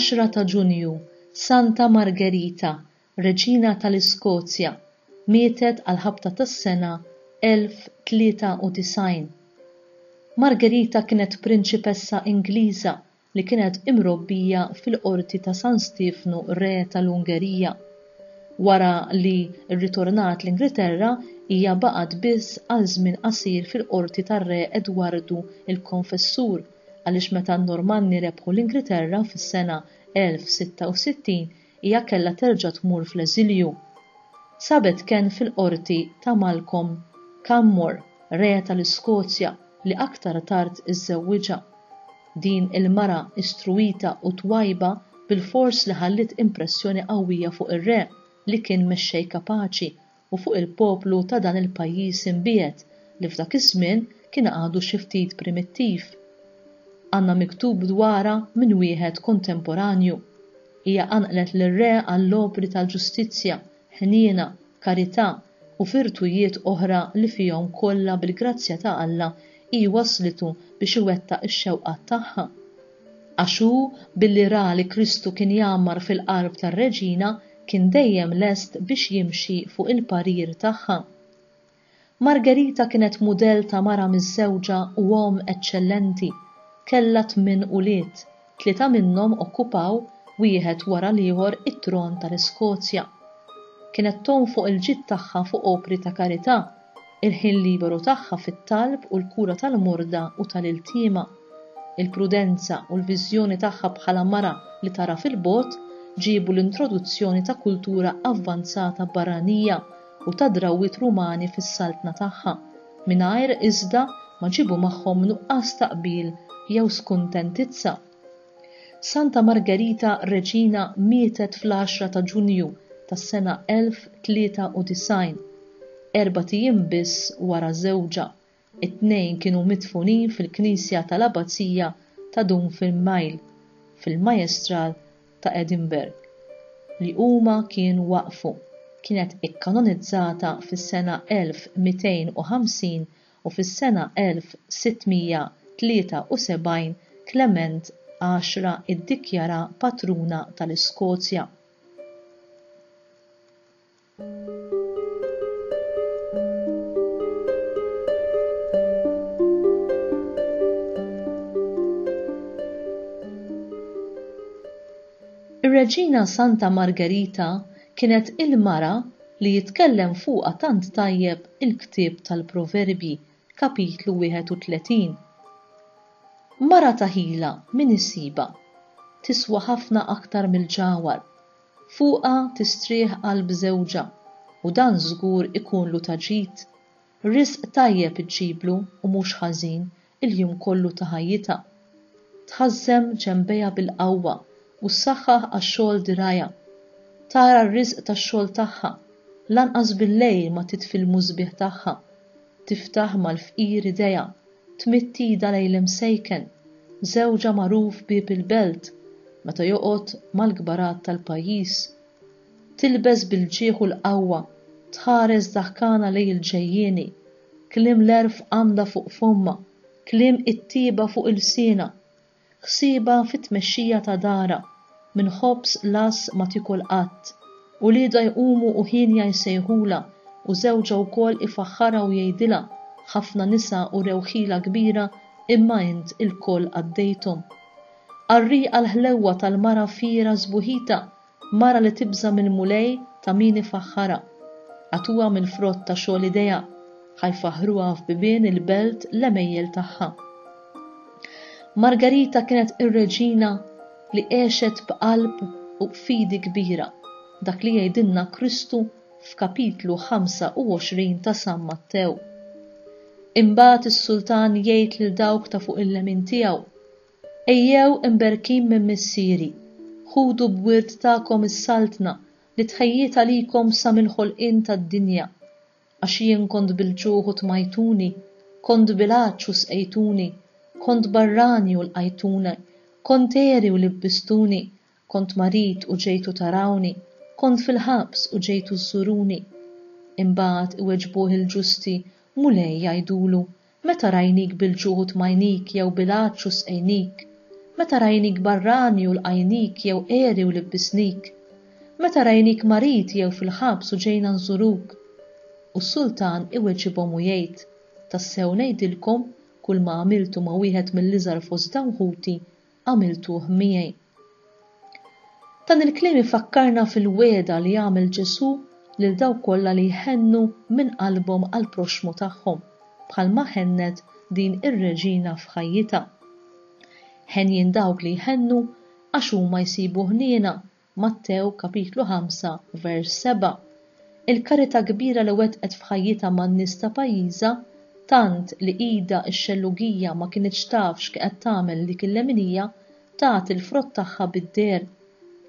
10 ta' Ġunju, Santa Margerita, Reġina tal-Iskozja, mietet għall-ħabta tas-sena 1093. Margerita kienet prinċipessa Ingliża li kienet imrobbija fil-Qorti ta' San Stiefnu Re tal-Ungerija. Wara li rritornat l-Ingilterra, hija baqgħet biss għal żmien qasir fil-Qorti tar-Re Edwardu l-Konfessur għaliex meta n-Normanni rebħu l-Ingilterra fis-sena 1066 Hija kellha terġa' tmur fl-eżilju. Sabet kenn fil-qorti ta' Malcolm Canmore, Re tal-Iskozja li aktar tard iżżewwiġha. Din il-mara istruwita u twajba bilfors li ħalliet impressjoni qawwija fuq ir-Re li kien mexxej kapaċi u fuq il-poplu ta' dan il-pajjiż imbiegħed li f'dak iż-żmien kien għadu xi ftit primittiv. Għandna miktub dwarha minn wieħed kontemporanju, Hija qanqlet lir-re għall-opri tal-ġustizzja, ħniena, karità u virtujiet oħra li fihom kollha bil-grazzja ta' Alla hi wasslitu biex iwettaq ix-xewqat tagħha. Għax hu, billi ra li Kristu kien jgħammar fil-qalb tar-reġina, kien dejjem lest biex jimxi fuq il-parir tagħha. Margherita kienet mudell ta' mara miżżewġa u omm eċċellenti. Kellha tmien ulied, tlieta minnhom okkupaw, wieħed wara l-ieħor, it-tron tal-Iskozja. Kienet tgħum fuq il-ġid tagħha fuq opri ta' karità, il-ħin liberu tagħha fit-talb u l-kura tal-morda u tal-iltiema, il-prudenza u l-viżjoni tagħha bħala mara li tara fil-bogħod ġiebu l-introduzzjoni ta' kultura avvanzata barranija u ta' drawwiet Rumani fis-saltna tagħha, mingħajr, iżda, ma ġiebu magħhom nuqqas ta' qbil jew skuntentizza. Santa Margherita Reġina mietet fl-għaxra ta' Ġunju tas-sena 1093, erbat ijiem biss wara żewġha, it-tnejn kienu midfunin fil-knisja tal-Abbazija ta' Dunfinmaill, fil-Majestral ta' Edinburgh, li huma kienu waqqfu, kienet ikkanonizzata fis-sena 1250 u fis-sena 1673 Klement Għaxra iddikjaraha patruna tal-Iskozja. Ir-Reġina Santa Margerita kienet il-mara li jitkellem fuqha tant tajjeb il-ktieb tal-Proverbji, Kapitlu 31. Mara ta' ħila min isibha? Tiswa ħafna aktar mill-ġagħwar. Fuqha tistrieħ qalb żewġha, u dan żgur ikunlu ta' ġid. Risq tajjeb iġġiblu u mhux ħażin il-jum kollu ta' ħajjitha. Tħażżem ġenbejha bil-qawwa u ssaħħaħ għax-xogħol dirgħajha. Tara r-riżq tax-xogħol tagħha, lanqas bil-lejl ma titfi l-musbieħ tagħha. Tiftaħ mal-fqir idejha, tmidd idha lejn l-imsejken, żewġha magħruf bieb il-belt, meta joqgħod mal-kbarat tal-pajjiż. Tilbes bil-ġieħ u l-qawwa, tħares daħkana lejn il-ġejjieni, Kliem l-għerf għandha fuq fommha, kliem it-tjieba fuq ilsienha. Ħsiebha fit-tmexxija ta' darha, minn ħobż lass ma tiekol qatt. Uliedha jqumu u hienja jsejħulha u żewġha wkoll ifaħħarha u jgħidilha, Ħafna nisa urew ħila kbira imma int ilkoll għaddejthom. Qarrieqa l-ħlewwa tal-mara fiergħa sbuħitha Mara li tibża' mill-Mulej ta' min ifaħħarha. Agħtuha mill-frott ta' xogħol idejha, ħa jfaħħruha f'bibien il-belt l-għemejjel tagħha. Margarita kienet ir-reġina li għexet b'qalb u b'fidi kbira, dak li jgħidilna Kristu f'Kapitlu 25 ta' San Mattew. Imbagħad is-sultan jgħid lil dawk ta' fuq il-lemin tiegħu, Ejjew imberkin minn Missieri, ħudu b'wirt tagħkom is-Saltna li tħejjiet għalikom sa mill-ħolqien tad-dinja. Għax jien kont bil-ġuħ u tmajtuni, kont bil-għatx u sqejtuni, kont barrani u lqajtuni, kont għeri u libbistuni, Kont marid u ġejtu tarawni, kont fil-ħabs u ġejtu żżuruni. Imbagħad iweġbuh il-ġusti, Mulej, jgħidulu, meta rajnik bil-ġuħ u tmajnik jew bil-għatx u sqejnik? Meta rajnik barrani u lqajnik jew għeri u libbisnik? Meta rajnik marid jew fil-ħabs u ġejna nżuruk? U s-sultan iweġibhom u jgħid, Tassew ngħidilkom, kulma għamiltu ma' wieħed mill-iżgħar fost dawn ħuti, għamiltuh miegħi. Dan il-kliem ifakkarna fil-wegħda li għamel Ġesù lil dawk kollha li jħennu minn qalbhom għall-proxxmu tagħhom, bħalma ħennet din ir-reġina f'ħajjitha. Henjin dawk li jħennu għax huma jsibu ħniena Mattew kapitlu 5 vers 7. Il-karità kbira li wettqet f'ħajjitha man-nies ta' pajjiżha, tant li idha x-xellugija ma kinitx taf x'qegħed tagħmel dik il-leminija, tat il-frott tagħha bid-deher.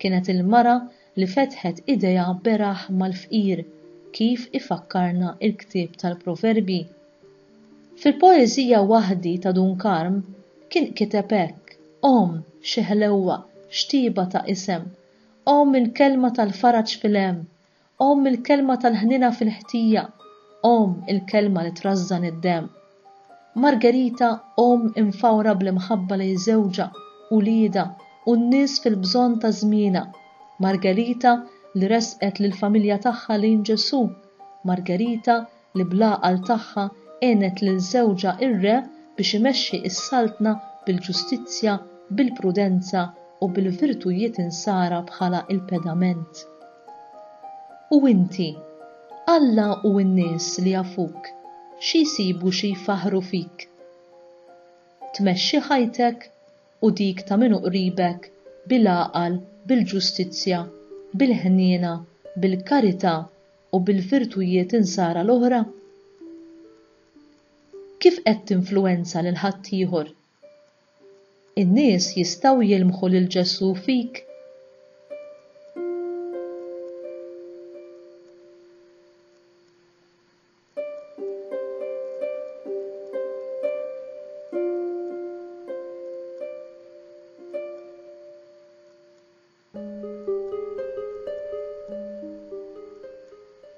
Kienet il-mara li fetħet idejha beraħ mal-fqir, kif ifakkarna l-ktieb tal-Proverbji. Fil-poeżija Waħdi ta' Dun Karm kien kiteb hekk, Omm, xi ħlewwa, x'tiba ta' isem, Omm il-kelma tal-faraġ fil-hemm, Omm il-kelma tal-ħniena fil-ħtija, Omm il-kelma li trażżan id-demm. Margherita omm imfawra bl-imħabba lejn żewġha, uliedha u n-nies fil-bżonn ta' żmienha. Margherita li ressqet lill-familja tagħha lejn Ġesù. Margherita li bl-għaqal tagħha għenet lil żewġha r-Re biex imexxi s-Saltna bil-ġustizzja, bil-prudenza u bil-virtujiet insara bħala l-pedament. U inti, Alla u n-nies li jafuk xi jsibu xi jfaħħru fik? Tmexxi ħajtek u dik ta' min hu qribek bil-għaqal, bil-ġustizzja, bil-ħniena, bil-karità u bil-virtujiet insara l-oħra? Kif qed tinfluwenza lil ħaddieħor? In-nies jistgħu jilmħu lil Ġesù fik?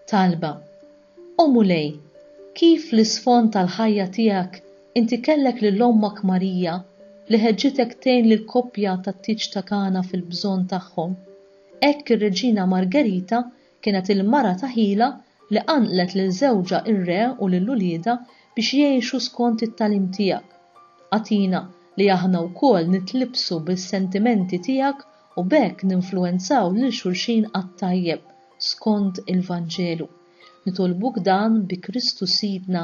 Talba, O Mulej, kif fl-isfond tal-ħajja tiegħek inti kellek lil Ommak Marija li ħeġġitek tgħin lill-koppja tat-tieġ ta' Kana fil-bżonn tagħhom, hekk ir-Reġina Margerita Kienet il-mara ta' ħila li qanqlet lil żewġha r-re u lil uliedha biex jgħixu skont it-tagħlim tiegħek. Agħtina li aħna wkoll nitlibbsu bis-sentimenti tiegħek u b'hekk ninfluwenzaw lil xulxin għat-tajjeb, skont il-Vanġelu. Nitolbuk dan bi Kristu Sidna.